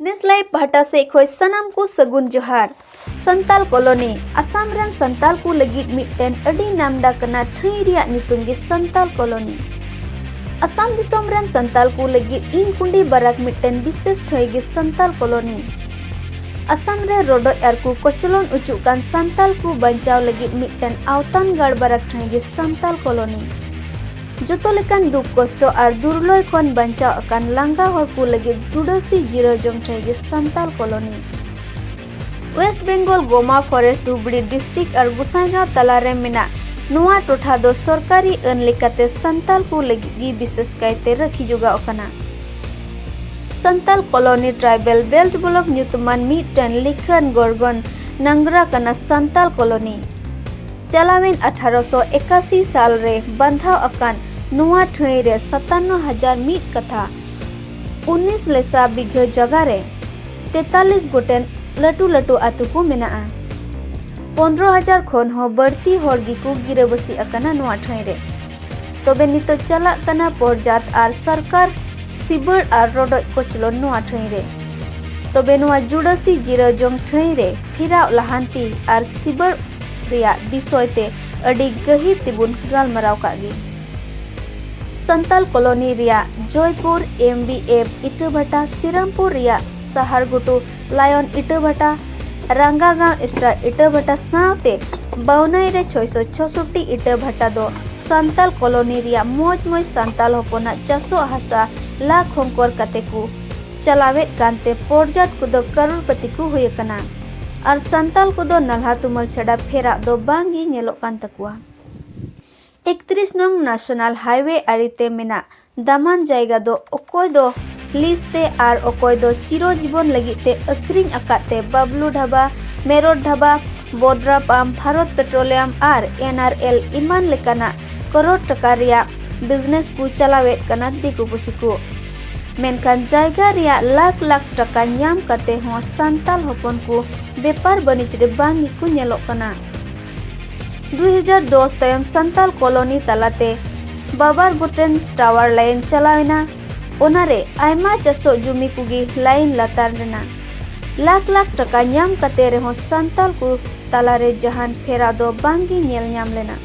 ᱱᱮᱥᱞᱟᱭ ᱯᱟᱦᱴᱟ ᱥᱮᱫ ᱠᱷᱚᱱ ᱥᱟᱱᱟᱢ ᱠᱚ ᱥᱟᱹᱜᱩᱱ ᱡᱚᱦᱟᱨ ᱥᱟᱱᱛᱟᱞ ᱠᱚᱞᱚᱱᱤ ᱟᱥᱟᱢ ᱨᱮᱱ ᱥᱟᱱᱛᱟᱞ ᱠᱚ ᱞᱟᱹᱜᱤᱫ ᱢᱤᱫᱴᱮᱱ ᱟᱹᱰᱤ ᱱᱟᱢᱰᱟᱠ ᱠᱟᱱᱟ ᱴᱷᱟᱹᱭ ᱨᱮᱭᱟᱜ ᱧᱩᱛᱩᱢ ᱜᱮ ᱥᱟᱱᱛᱟᱞ ᱠᱚᱞᱚᱱᱤ ᱟᱥᱟᱢ ᱫᱤᱥᱚᱢ ᱨᱮᱱ ᱥᱟᱱᱛᱟᱞ ᱠᱚ ᱞᱟᱹᱜᱤᱫ ᱤᱱ ᱠᱩᱸᱰᱤ ᱵᱟᱨᱟᱠ ᱢᱤᱫᱴᱮᱱ ᱵᱤᱥᱮᱥ ᱴᱷᱟᱹᱭ ᱜᱮ ᱥᱟᱱᱛᱟᱞ ᱠᱚᱞᱚᱱᱤ ᱟᱥᱟᱢ ᱨᱮ ᱨᱚᱰᱚᱡ ᱟᱨ ᱠᱚ ᱠᱚᱪᱞᱚᱱ ᱚᱪᱚᱜ ᱠᱟᱱ ᱥᱟᱱᱛᱟᱞ ᱠᱚ ᱵᱟᱧᱪᱟᱣ ᱞᱟᱹᱜᱤᱫ ᱢᱤᱫᱴᱮᱱ ᱟᱣᱛᱟᱱ ᱜᱟᱲ ᱵᱟᱨᱟᱠ ᱴᱷᱟᱹᱭ ᱜᱮ ᱥᱟᱱᱛᱟᱞ ᱠᱚᱞᱚᱱᱤ ᱡᱚᱛᱚ ᱞᱮᱠᱟᱱ ᱫᱩᱠ ᱠᱚᱥᱴᱚ ᱟᱨ ᱫᱩᱨᱞᱚᱭ ᱠᱷᱚᱱ ᱵᱟᱧᱪᱟᱣ ᱟᱠᱟᱱ ᱞᱟᱸᱜᱟ ᱦᱚᱲ ᱠᱚ ᱞᱟᱹᱜᱤᱫ ᱡᱩᱰᱟᱹᱥᱤ ᱡᱤᱨᱟᱹᱣ ᱡᱚᱝ ᱴᱷᱟᱶ ᱜᱮ ᱥᱟᱱᱛᱟᱞ ᱠᱚᱞᱚᱱᱤ ᱣᱮᱥᱴ ᱵᱮᱝᱜᱚᱞ ᱜᱚᱢᱟ ᱯᱷᱚᱨᱮᱥᱴ ᱰᱩᱵᱲᱤ ᱰᱤᱥᱴᱨᱤᱠᱴ ᱟᱨ ᱜᱩᱥᱟᱭᱜᱟᱸᱣ ᱛᱟᱞᱟᱨᱮ ᱢᱮᱱᱟᱜ ᱱᱚᱣᱟ ᱴᱚᱴᱷᱟ ᱫᱚ ᱥᱚᱨᱠᱟᱨᱤ ᱟᱹᱱ ᱞᱮᱠᱟᱛᱮ ᱥᱟᱱᱛᱟᱞ ᱠᱚ ᱞᱟᱹᱜᱤᱫ ᱜᱮ ᱵᱤᱥᱮᱥ ᱠᱟᱭᱛᱮ ᱨᱟᱹᱠᱷᱤ ᱡᱚᱜᱟᱣ ᱟᱠᱟᱱᱟ Santal colony tribal belt block ᱧᱩᱛᱩᱢᱟᱱ ᱢᱤᱫᱴᱟᱝ ᱞᱤᱠᱷᱟᱹᱱ ᱜᱚᱨᱜᱚᱱ ᱱᱟᱝᱜᱽᱨᱟ ᱠᱟᱱᱟ ᱥᱟᱱᱛᱟᱞ ᱠᱚᱞᱚᱱᱤ ᱪᱟᱞᱟᱣᱮᱱ ᱟᱴᱷᱟᱨᱚ ᱥᱚ ᱮᱠᱟᱥᱤ ᱥᱟᱞ ᱨᱮ ᱵᱟᱱᱫᱷᱟᱣ ᱟᱠᱟᱱ ᱱᱚᱣᱟ ᱴᱷᱟᱹᱭ ᱨᱮ ᱥᱟᱛᱟᱱᱱᱚ ᱦᱟᱡᱟᱨ ᱢᱤᱫ ᱠᱟᱛᱷᱟ ᱩᱱᱤᱥ ᱞᱮᱥᱟ ᱵᱤᱜᱷᱟᱹ ᱡᱟᱭᱜᱟ ᱨᱮ ᱛᱮᱛᱟᱞᱤᱥ ᱜᱚᱴᱮᱱ ᱞᱟᱹᱴᱩ ᱞᱟᱹᱴᱩ ᱟᱹᱛᱩ ᱠᱚ ᱢᱮᱱᱟᱜᱼᱟ ᱯᱚᱱᱨᱚ ᱦᱟᱡᱟᱨ ᱠᱷᱚᱱ ᱦᱚᱸ ᱵᱟᱹᱲᱛᱤ ᱦᱚᱲ ᱜᱮᱠᱚ ᱜᱤᱨᱟᱹᱵᱟᱹᱥᱤ ᱟᱠᱟᱱᱟ ᱱᱚᱣᱟ ᱴᱷᱟᱹᱭ ᱨᱮ ᱛᱚᱵᱮ ᱱᱤᱛᱚᱜ ᱪᱟᱞᱟᱜ ᱠᱟᱱᱟ ᱯᱚᱨᱡᱟᱛ ᱟᱨ ᱥᱚᱨᱠᱟᱨ ᱥᱤᱵᱟᱹᱲ ᱟᱨ ᱨᱚᱰᱚᱡ ᱠᱚᱪᱞᱚᱱ ᱱᱚᱣᱟ ᱴᱷᱟᱹᱭ ᱨᱮ ᱛᱚᱵᱮ ᱱᱚᱣᱟ ᱡᱩᱰᱟᱹᱥᱤ ᱡᱤᱨᱟᱹᱣ ᱡᱚᱝ ᱴᱷᱟᱹᱭ ᱨᱮ ᱯᱷᱤᱨᱟᱣ ᱞᱟᱦᱟᱱᱛᱤ ᱟᱨ ᱥᱤᱵᱟᱹᱲ ᱨᱮᱭᱟᱜ ᱵᱤᱥᱚᱭ ᱛᱮ ᱟᱹᱰᱤ ᱜᱟᱹᱦᱤᱨ ᱛᱮᱵᱚᱱ ᱜᱟᱞᱢᱟᱨᱟᱣ ᱠᱟᱜ ᱜᱮ ᱥᱟᱱᱛᱟᱞ ᱠᱚᱞᱚᱱᱤ ᱨᱮᱭᱟᱜ ᱡᱚᱭᱯᱩᱨ ᱮᱢ ᱵᱤ ᱮᱢ ᱤᱴᱟᱹᱵᱷᱟᱴᱟ ᱥᱤᱨᱟᱢᱯᱩᱨ ᱨᱮᱭᱟᱜ ᱥᱟᱦᱟᱨ ᱜᱷᱩᱴᱩ ᱞᱟᱭᱚᱱ ᱤᱴᱟᱹᱵᱷᱟᱴᱟ ᱨᱟᱝᱜᱟᱜᱟᱸᱣ ᱥᱴᱟᱨ ᱤᱴᱟᱹᱵᱷᱟᱴᱟ ᱥᱟᱶᱛᱮ ᱵᱟᱣᱱᱟᱭ ᱨᱮ ᱪᱷᱚᱭᱥᱚ ᱪᱷᱚᱥᱚᱴᱴᱤ ᱤᱴᱟᱹᱵᱷᱟᱴᱟ ᱫᱚ ᱥᱟᱱᱛᱟᱞ ᱠᱚᱞᱚᱱᱤ ᱨᱮᱭᱟᱜ ᱢᱚᱡᱽ ᱢᱚᱡᱽ ᱥᱟᱱᱛᱟᱞ ᱦᱚᱯᱚᱱᱟᱜ ᱪᱟᱥᱚᱜ ᱦᱟᱥᱟ ᱞᱟ ᱠᱷᱚᱝᱠᱚᱨ ᱠᱟᱛᱮ ᱠᱚ ᱪᱟᱞᱟᱣᱮᱫ ᱠᱟᱱᱛᱮ ᱯᱚᱨᱡᱟᱛ ᱠᱚᱫᱚ ᱠᱟᱨᱩᱲᱯᱟᱹᱛᱤ ᱠᱚ ᱦᱩᱭ ᱟᱠᱟᱱᱟ ᱟᱨ ᱥᱟᱱᱛᱟᱞ ᱠᱚᱫᱚ ᱱᱟᱞᱦᱟ ᱛᱩᱢᱟᱹᱞ ᱪᱷᱟᱰᱟ ᱯᱷᱮᱨᱟᱜ ᱫᱚ ᱵᱟᱝ ᱜᱮ ᱧᱮᱞᱚᱜ ᱠᱟᱱ ᱛᱟᱠᱚᱣᱟ ᱮᱠᱛᱨᱤᱥ ᱱᱚᱝ ᱱᱟᱥᱚᱱᱟᱞ ᱦᱟᱭᱣᱮ ᱟᱲᱮᱛᱮ ᱢᱮᱱᱟᱜ ᱫᱟᱢᱟᱱ ᱡᱟᱭᱜᱟ ᱫᱚ ᱚᱠᱚᱭ ᱫᱚ ᱞᱤᱡ ᱛᱮ ᱟᱨ ᱚᱠᱚᱭ ᱫᱚ ᱪᱤᱨᱚ ᱡᱤᱵᱚᱱ ᱞᱟᱹᱜᱤᱫ ᱛᱮ ᱟᱹᱠᱷᱨᱤᱧ ᱟᱠᱟᱫ ᱛᱮ ᱵᱟᱵᱞᱩ ᱰᱷᱟᱵᱟ ᱢᱮᱨᱚᱴ ᱰᱷᱟᱵᱟ ᱵᱚᱫᱽᱨᱟ ᱯᱟᱢ ᱵᱷᱟᱨᱚᱛ ᱯᱮᱴᱨᱳᱞᱤᱭᱟᱢ ᱟᱨ ᱮᱱ ᱟᱨ ᱮᱞ ᱮᱢᱟᱱ ᱞᱮᱠᱟᱱᱟᱜ ᱠᱚᱨᱳᱲ ᱴᱟᱠᱟ ᱨᱮᱭᱟᱜ ᱵᱤᱡᱽᱱᱮᱥ ᱠᱚ ᱪᱟᱞᱟᱣᱮᱫ ᱠᱟᱱᱟ ᱫᱤᱠᱩ ᱯᱩᱥᱤ ᱠᱚ ᱢᱮᱱᱠᱷᱟᱱ ᱡᱟᱭᱜᱟ ᱨᱮᱭᱟᱜ ᱞᱟᱠᱷ ᱞᱟᱠᱷ ᱴᱟᱠᱟ ᱧᱟᱢ ᱠᱟᱛᱮ ᱦᱚᱸ ᱥᱟᱱᱛᱟᱞ ᱦᱚᱯᱚᱱ ᱠᱚ ᱵᱮᱯᱟᱨ ᱵᱟᱹᱱᱤᱡᱽ ᱨᱮ ᱵᱟᱝ ᱜᱮᱠᱚ ᱧᱮᱞᱚᱜ ᱠᱟᱱᱟ 2010 ᱛᱟᱭᱚᱢ ᱥᱟᱱᱛᱟᱞ ᱠᱚᱞᱚᱱᱤ ᱛᱟᱞᱟᱛᱮ ᱵᱟᱵᱟᱨ ᱜᱚᱴᱮᱱ ᱴᱟᱣᱟᱨ ᱞᱟᱭᱤᱱ ᱪᱟᱞᱟᱣᱮᱱᱟ ᱚᱱᱟᱨᱮ ᱟᱭᱢᱟ ᱪᱟᱥᱚᱜ ᱡᱩᱢᱤ ᱠᱚᱜᱮ ᱞᱟᱭᱤᱱ ᱞᱟᱛᱟᱨ ᱨᱮᱱᱟᱜ ᱞᱟᱠᱷ ᱞᱟᱠᱷ ᱴᱟᱠᱟ ᱧᱟᱢ ᱠᱟᱛᱮ ᱨᱮᱦᱚᱸ ᱥᱟᱱᱛᱟᱞ ᱠᱚ ᱛᱟᱞᱟᱨᱮ ᱡᱟᱦᱟᱱ ᱯᱷᱮᱨᱟᱣ ᱫᱚ ᱵᱟᱝᱜᱮ ᱧᱮᱞ ᱧᱟᱢ ᱞᱮᱱᱟ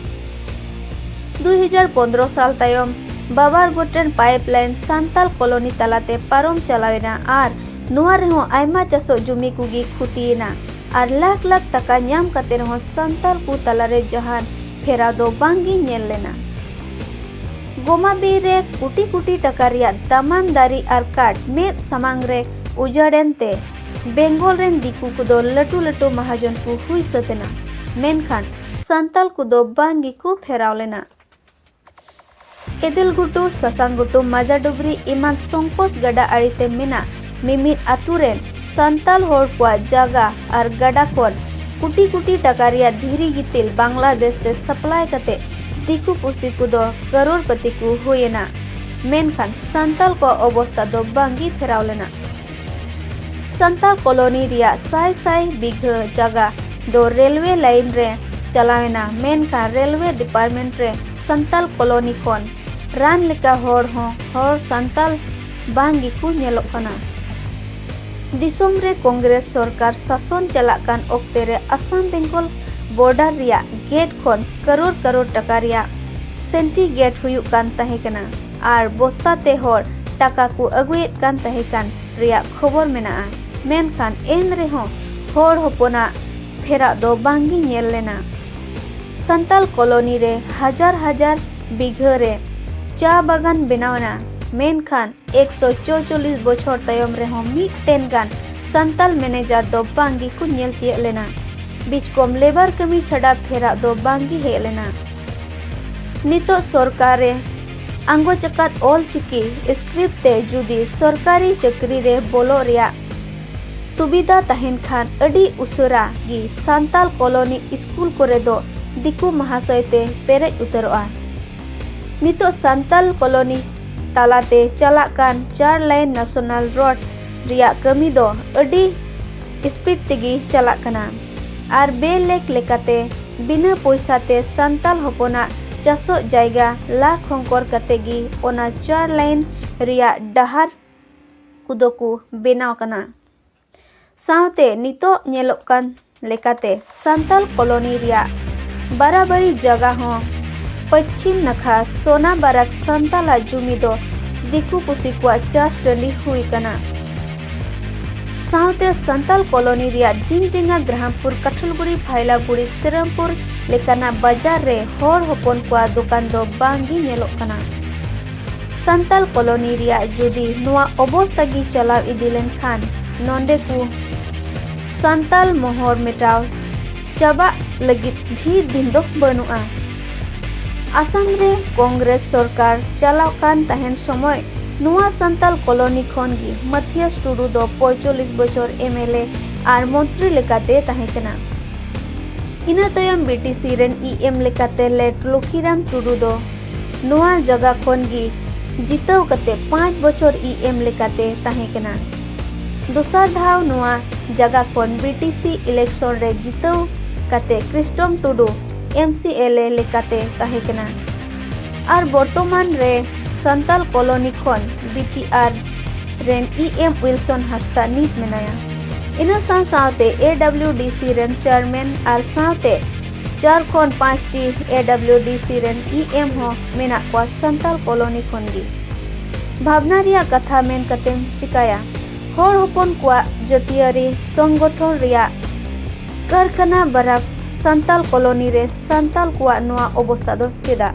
2015 ᱥᱟᱞ ᱛᱟᱭᱚᱢ ᱵᱟᱵᱟᱨ ᱜᱚᱴᱮᱱ ᱯᱟᱭᱤᱯᱞᱟᱭᱤᱱ ᱥᱟᱱᱛᱟᱞ ᱠᱚᱞᱚᱱᱤ ᱛᱟᱞᱟᱛᱮ ᱯᱟᱨᱚᱢ ᱪᱟᱞᱟᱣᱮᱱᱟ ᱟᱨ ᱱᱚᱣᱟ ᱨᱮᱦᱚᱸ ᱟᱭᱢᱟ ᱪᱟᱥᱚᱜ ᱡᱩᱢᱤ ᱠᱚᱜᱮ ᱠᱷᱩᱛᱤᱭᱮᱱᱟ ᱟᱨ ᱞᱟᱠᱷ ᱞᱟᱠᱷ ᱴᱟᱠᱟ ᱧᱟᱢ ᱠᱟᱛᱮ ᱨᱮᱦᱚᱸ ᱥᱟᱱᱛᱟᱞ ᱠᱚ ᱛᱟᱞᱟᱨᱮ ᱡᱟᱦᱟᱱ ᱯᱷᱮᱨᱟᱣ ᱫᱚ ᱵᱟᱝᱜᱮ ᱧᱮᱞ ᱞᱮᱱᱟ ᱜᱚᱢᱟ ᱵᱤᱨ ᱨᱮ ᱠᱳᱴᱤ ᱠᱳᱴᱤ ᱴᱟᱠᱟ ᱨᱮᱭᱟᱜ ᱫᱟᱢᱟᱱ ᱫᱟᱨᱮ ᱟᱨ ᱠᱟᱴ ᱢᱮᱫ ᱥᱟᱢᱟᱝ ᱨᱮ ᱩᱡᱟᱹᱲᱮᱱ ᱛᱮ ᱵᱮᱝᱜᱚᱞ ᱨᱮᱱ ᱫᱤᱠᱩ ᱠᱚᱫᱚ ᱞᱟᱹᱴᱩ ᱞᱟᱹᱴᱩ ᱢᱟᱦᱟᱡᱚᱱ ᱠᱚ ᱦᱩᱭ ᱥᱟᱹᱛ ᱮᱱᱟ ᱢᱮᱱᱠᱷᱟᱱ ᱥᱟᱱᱛᱟᱞ ᱠᱚᱫᱚ ᱵᱟᱝ ᱜᱮᱠᱚ ᱯᱷᱮᱨᱟᱣ ᱞᱮᱱᱟ᱾ ᱮᱫᱮᱞᱜᱷᱩᱴᱩ, ᱥᱟᱥᱟᱝᱜᱷᱩᱴᱩ, ᱢᱟᱡᱟᱰᱩᱵᱽᱨᱤ ᱮᱢᱟᱱ ᱥᱚᱝᱠᱳᱥ ᱜᱟᱰᱟ ᱟᱲᱮ ᱛᱮ ᱢᱮᱱᱟᱜ ᱢᱤᱢᱤᱫ ᱟᱹᱛᱩ ᱨᱮᱱ ᱥᱟᱱᱛᱟᱞ ᱦᱚᱲ ᱠᱚᱣᱟᱜ ᱡᱟᱜᱟ ᱟᱨ ᱜᱟᱰᱟ ᱠᱷᱚᱱ ᱠᱩᱴᱤ ᱠᱩᱴᱤ ᱴᱟᱠᱟ ᱨᱮᱭᱟᱜ ᱫᱷᱤᱨᱤ ᱜᱤᱛᱤᱞ ᱵᱟᱝᱞᱟᱫᱮᱥ ᱛᱮ ᱥᱟᱯᱞᱟᱭ ᱠᱟᱛᱮ ᱫᱤᱠᱩ ᱯᱩᱥᱤ ᱠᱚᱫᱚ ᱠᱟᱨᱳᱲᱯᱟᱹᱛᱤ ᱠᱚ ᱦᱩᱭ ᱮᱱᱟ᱾ ᱢᱮᱱᱠᱷᱟᱱ ᱥᱟᱱᱛᱟᱞ ᱠᱚᱣᱟᱜ ᱚᱵᱚᱥᱛᱟ ᱫᱚ ᱵᱟᱝ ᱜᱮ ᱯᱷᱮᱨᱟᱣ ᱞᱮᱱᱟ᱾ ᱥᱟᱱᱛᱟ ᱠᱚᱞᱚᱱᱤ ᱨᱮᱭᱟᱜ ᱥᱟᱭ ᱥᱟᱭ ᱵᱤᱜᱷᱟᱹ ᱡᱟᱜᱟ ᱫᱚ ᱨᱮᱞᱣᱮ ᱞᱟᱭᱤᱱ ᱨᱮ ᱪᱟᱞᱟᱣᱮᱱᱟ ᱢᱮᱱᱠᱷᱟᱱ ᱨᱮᱞᱣᱮ ᱰᱤᱯᱟᱨᱴᱢᱮᱱᱴ ᱨᱮ ᱥᱟᱱᱛᱟᱞ ᱠᱚᱞᱚᱱᱤ ᱠᱷᱚᱱ ᱨᱟᱱ ᱞᱮᱠᱟ ᱦᱚᱲ ᱦᱚᱸ ᱦᱚᱲ ᱥᱟᱱᱛᱟᱞ ᱵᱟᱝ ᱜᱮᱠᱚ ᱧᱮᱞᱚᱜ ᱠᱟᱱᱟ ᱫᱤᱥᱚᱢ ᱨᱮ ᱠᱚᱝᱜᱨᱮᱥ ᱥᱚᱨᱠᱟᱨ ᱥᱟᱥᱚᱱ ᱪᱟᱞᱟᱜ ᱠᱟᱱ ᱚᱠᱛᱮ ᱨᱮ ᱟᱥᱟᱢ ᱵᱮᱝᱜᱚᱞ ᱵᱚᱨᱰᱟᱨ ᱨᱮᱭᱟᱜ ᱜᱮᱴ ᱠᱷᱚᱱ ᱠᱟᱨᱳᱲ ᱠᱟᱨᱳᱲ ᱴᱟᱠᱟ ᱨᱮᱭᱟᱜ ᱥᱮᱱᱴᱤ ᱜᱮᱴ ᱦᱩᱭᱩᱜ ᱠᱟᱱ ᱛᱟᱦᱮᱸ ᱠᱟᱱᱟ ᱟᱨ ᱵᱚᱥᱛᱟ ᱛᱮ ᱦᱚᱲ ᱴᱟᱠᱟ ᱠᱚ ᱟᱹᱜᱩᱭᱮᱫ ᱠᱟᱱ ᱛᱟᱦᱮᱸ ᱠᱟᱱ ᱨᱮᱭᱟᱜ ᱠᱷᱚᱵᱚᱨ ᱢᱮᱱᱟᱜᱼᱟ ᱢᱮᱱᱠᱷᱟᱱ ᱮᱱ ᱨᱮᱦᱚᱸ ᱦᱚᱲ ᱦᱚᱯᱚᱱᱟᱜ ᱯᱷᱮᱨᱟᱜ ᱫᱚ ᱵᱟᱝ ᱜᱮ ᱧᱮᱞ ᱞᱮᱱᱟ ᱥᱟᱱᱛᱟᱞ ᱠᱚᱞᱚᱱᱤ ᱨᱮ ᱦᱟᱡᱟᱨ ᱦᱟᱡᱟᱨ ᱵᱤᱜᱷᱟᱹ ᱨᱮ ᱪᱟ ᱵᱟᱜᱟᱱ ᱵᱮᱱᱟᱣᱮᱱᱟ ᱢᱮᱱᱠᱷᱟᱱ ᱮᱠᱥᱚ ᱪᱚᱪᱚᱞᱤᱥ ᱵᱚᱪᱷᱚᱨ ᱛᱟᱭᱚᱢ ᱨᱮᱦᱚᱸ ᱢᱤᱫᱴᱮᱱ ᱜᱟᱱ ᱥᱟᱱᱛᱟᱞ ᱢᱮᱱᱮᱡᱟᱨ ᱫᱚ ᱵᱟᱝ ᱜᱮᱠᱚ ᱧᱮᱞ ᱛᱤᱭᱟᱹᱜ ᱞᱮᱱᱟ ᱵᱤᱪᱠᱚᱢ ᱞᱮᱵᱟᱨ ᱠᱟᱹᱢᱤ ᱪᱷᱟᱰᱟ ᱯᱷᱮᱨᱟᱜ ᱫᱚ ᱵᱟᱝ ᱜᱮ ᱦᱮᱡ ᱞᱮᱱᱟ ᱱᱤᱛᱚᱜ ᱥᱚᱨᱠᱟᱨ ᱨᱮ ᱟᱸᱜᱚᱪ ᱟᱠᱟᱫ ᱚᱞ ᱪᱤᱠᱤ ᱥᱠᱨᱤᱯᱴ ᱛᱮ ᱡᱩᱫᱤ ᱥᱚᱨᱠᱟᱨᱤ ᱪᱟᱹᱠᱨᱤ ᱨᱮ ᱵᱚᱞᱚᱜ ᱨᱮᱭᱟᱜ ᱥᱩᱵᱤᱫᱷᱟ ᱛᱟᱦᱮᱱ ᱠᱷᱟᱱ ᱟᱹᱰᱤ ᱩᱥᱟᱹᱨᱟ ᱜᱮ ᱥᱟᱱᱛᱟᱲ ᱠᱚᱞᱚᱱᱤ ᱥᱠᱩᱞ ᱠᱚᱨᱮ ᱫᱚ ᱫᱤᱠᱩ ᱢᱟᱦᱟᱥᱚᱭ ᱛᱮ ᱯᱮᱨᱮᱡ ᱩᱛᱟᱹᱨᱚᱜᱼᱟ ᱱᱤᱛᱚᱜ ᱥᱟᱱᱛᱟᱲ ᱠᱚᱞᱚᱱᱤ ᱛᱟᱞᱟᱛᱮ ᱪᱟᱞᱟᱜ ᱠᱟᱱ ᱪᱟᱨ ᱞᱟᱭᱤᱱ ᱱᱮᱥᱚᱱᱟᱞ ᱨᱳᱰ ᱨᱮᱭᱟᱜ ᱠᱟᱹᱢᱤ ᱫᱚ ᱟᱹᱰᱤ ᱥᱯᱤᱰ ᱛᱮᱜᱮ ᱪᱟᱞᱟᱜ ᱠᱟᱱᱟ ᱟᱨ ᱵᱮᱼᱞᱮᱠ ᱞᱮᱠᱟᱛᱮ ᱵᱤᱱᱟᱹ ᱯᱚᱭᱥᱟ ᱛᱮ ᱥᱟᱱᱛᱟᱞ ᱦᱚᱯᱚᱱᱟᱜ ᱪᱟᱥᱚᱜ ᱡᱟᱭᱜᱟ ᱞᱟ ᱠᱷᱚᱝᱠᱚᱨ ᱠᱟᱛᱮ ᱜᱮ ᱚᱱᱟ ᱪᱟᱨ ᱞᱟᱭᱤᱱ ᱨᱮᱭᱟᱜ ᱰᱟᱦᱟᱨ ᱠᱚᱫᱚ ᱠᱚ ᱵᱮᱱᱟᱣ ᱠᱟᱱᱟ ᱥᱟᱶᱛᱮ ᱱᱤᱛᱚᱜ ᱧᱮᱞᱚᱜ ᱠᱟᱱ ᱞᱮᱠᱟᱛᱮ ᱥᱟᱱᱛᱟᱞ ᱠᱚᱞᱚᱱᱤ ᱨᱮᱭᱟᱜ ᱵᱟᱨᱟᱵᱟᱨᱤ ᱡᱟᱜᱟ ᱦᱚᱸ ᱯᱟᱹᱪᱷᱤᱢ ᱱᱟᱠᱷᱟ ᱥᱚᱱᱟ ᱵᱟᱨᱟᱠ ᱥᱟᱱᱛᱟᱞᱟᱜ ᱡᱩᱢᱤ ᱫᱚ ᱫᱤᱠᱩ ᱯᱩᱥᱤ ᱠᱚᱣᱟᱜ ᱪᱟᱥ ᱴᱟᱺᱰᱤ ᱦᱩᱭ ᱠᱟᱱᱟ᱾ ᱥᱟᱶᱛᱮ ᱥᱟᱱᱛᱟᱞ ᱠᱚᱞᱚᱱᱤ ᱨᱮᱭᱟᱜ ᱰᱤᱝᱰᱮᱝᱟ, ᱜᱨᱟᱦᱟᱢᱯᱩᱨ, ᱠᱟᱴᱷᱚᱞᱜᱩᱲᱤ, ᱯᱷᱟᱭᱞᱟᱜᱩᱲᱤ, ᱥᱨᱤᱨᱟᱢᱯᱩᱨ ᱞᱮᱠᱟᱱᱟᱜ ᱵᱟᱡᱟᱨ ᱨᱮ ᱦᱚᱲ ᱦᱚᱯᱚᱱ ᱠᱚᱣᱟᱜ ᱫᱚᱠᱟᱱ ᱫᱚ ᱵᱟᱝ ᱜᱮ ᱧᱮᱞᱚᱜ ᱠᱟᱱᱟ᱾ ᱥᱟᱱᱛᱟᱞ ᱠᱚᱞᱚᱱᱤ ᱨᱮᱭᱟᱜ ᱡᱩᱫᱤ ᱱᱚᱶᱟ ᱚᱵᱚᱥᱛᱟ ᱜᱮ ᱪᱟᱞᱟᱣ ᱤᱫᱤ ᱞᱮᱱ ᱠᱷᱟᱱ ᱱᱚᱸᱰᱮ ᱠᱚ᱾ ᱥᱟᱱᱛᱟᱞ ᱢᱚᱦᱚᱨ ᱢᱮᱴᱟᱣ ᱪᱟᱵᱟᱜ ᱞᱟᱹᱜᱤᱫ ᱰᱷᱮᱨ ᱫᱤᱱ ᱫᱚ ᱵᱟᱹᱱᱩᱜᱼᱟ ᱟᱥᱟᱢ ᱨᱮ ᱠᱚᱝᱜᱨᱮᱥ ᱥᱚᱨᱠᱟᱨ ᱪᱟᱞᱟᱣ ᱠᱟᱱ ᱛᱟᱦᱮᱱ ᱥᱚᱢᱚᱭ ᱱᱚᱣᱟ ᱥᱟᱱᱛᱟᱞ ᱠᱚᱞᱚᱱᱤ ᱠᱷᱚᱱ ᱜᱮ ᱢᱟᱛᱷᱤᱭᱟᱥ ᱴᱩᱰᱩ ᱫᱚ ᱯᱚᱸᱭᱪᱚᱞᱞᱤᱥ ᱵᱚᱪᱷᱚᱨ ᱮᱢᱮᱞᱮ ᱟᱨ ᱢᱚᱱᱛᱨᱤ ᱞᱮᱠᱟᱛᱮ ᱛᱟᱦᱮᱸ ᱠᱟᱱᱟ ᱤᱱᱟᱹ ᱛᱟᱭᱚᱢ ᱵᱤᱴᱤᱥᱤ ᱨᱮᱱ ᱤ ᱮᱢ ᱞᱮᱠᱟᱛᱮ ᱞᱮᱴ ᱞᱚᱠᱷᱤᱨᱟᱢ ᱴᱩᱰᱩ ᱫᱚ ᱱᱚᱣᱟ ᱡᱟᱭᱜᱟ ᱠᱷᱚᱱ ᱜᱮ ᱡᱤᱛᱟᱹᱣ ᱠᱟᱛᱮ ᱯᱟᱸᱪ ᱵᱚᱪᱷᱚᱨ ᱤ ᱮᱢ ᱞᱮᱠᱟᱛᱮ ᱛᱟᱦᱮᱸ ᱠᱟᱱᱟ ᱫᱚᱥᱟᱨ ᱫᱷᱟᱣ ᱱᱚᱣᱟ ᱡᱟᱜᱟ ᱠᱷᱚᱱ ᱵᱤᱴᱤᱥᱤ ᱤᱞᱮᱠᱥᱚᱱ ᱨᱮ ᱡᱤᱛᱟᱹᱣ ᱠᱟᱛᱮ ᱠᱨᱤᱥᱴᱚᱢ ᱴᱩᱰᱩ MCLA ᱞᱮᱠᱟᱛᱮ ᱛᱟᱦᱮᱸ ᱠᱟᱱᱟ ᱟᱨ ᱵᱚᱨᱛᱚᱢᱟᱱ ᱨᱮ ᱥᱟᱱᱛᱟᱞ ᱠᱚᱞᱚᱱᱤ ᱠᱷᱚᱱ BTR ᱨᱮᱱ EM ᱩᱭᱞᱥᱚᱱ ᱦᱟᱸᱥᱫᱟ ᱱᱤᱛ ᱢᱮᱱᱟᱭᱟ ᱤᱱᱟᱹ ᱥᱟᱶ ᱥᱟᱶᱛᱮ AWDC ᱨᱮᱱ ᱪᱮᱭᱟᱨᱢᱮᱱ ᱟᱨ ᱥᱟᱶᱛᱮ ᱪᱟᱨ ᱠᱷᱚᱱ ᱯᱟᱸᱪᱴᱤ AWDC ᱨᱮᱱ EM ᱦᱚᱸ ᱢᱮᱱᱟᱜ ᱠᱚᱣᱟ ᱥᱟᱱᱛᱟᱞ ᱠᱚᱞᱚᱱᱤ ᱠᱷᱚᱱ ᱜᱮ ᱵᱷᱟᱵᱽᱱᱟ ᱨᱮᱭᱟᱜ ᱠᱟᱛᱷᱟ ᱢᱮᱱ ᱠᱟᱛᱮᱢ ᱪᱤᱠᱟᱹᱭᱟ ᱦᱚᱲ ᱦᱚᱯᱚᱱ ᱠᱚᱣᱟᱜ ᱡᱟᱹᱛᱤᱭᱟᱹᱨᱤ ᱥᱚᱝᱜᱚᱴᱷᱚᱱ ᱨᱮᱭᱟᱜ ᱠᱟᱨᱠᱷᱟᱱᱟ ᱵᱟᱨᱟᱠ ᱥᱟᱱᱛᱟᱞ ᱠᱚᱞᱚᱱᱤ ᱨᱮ ᱥᱟᱱᱛᱟᱞ ᱠᱚᱣᱟᱜ ᱱᱚᱣᱟ ᱚᱵᱚᱥᱛᱟ ᱫᱚ ᱪᱮᱫᱟᱜ?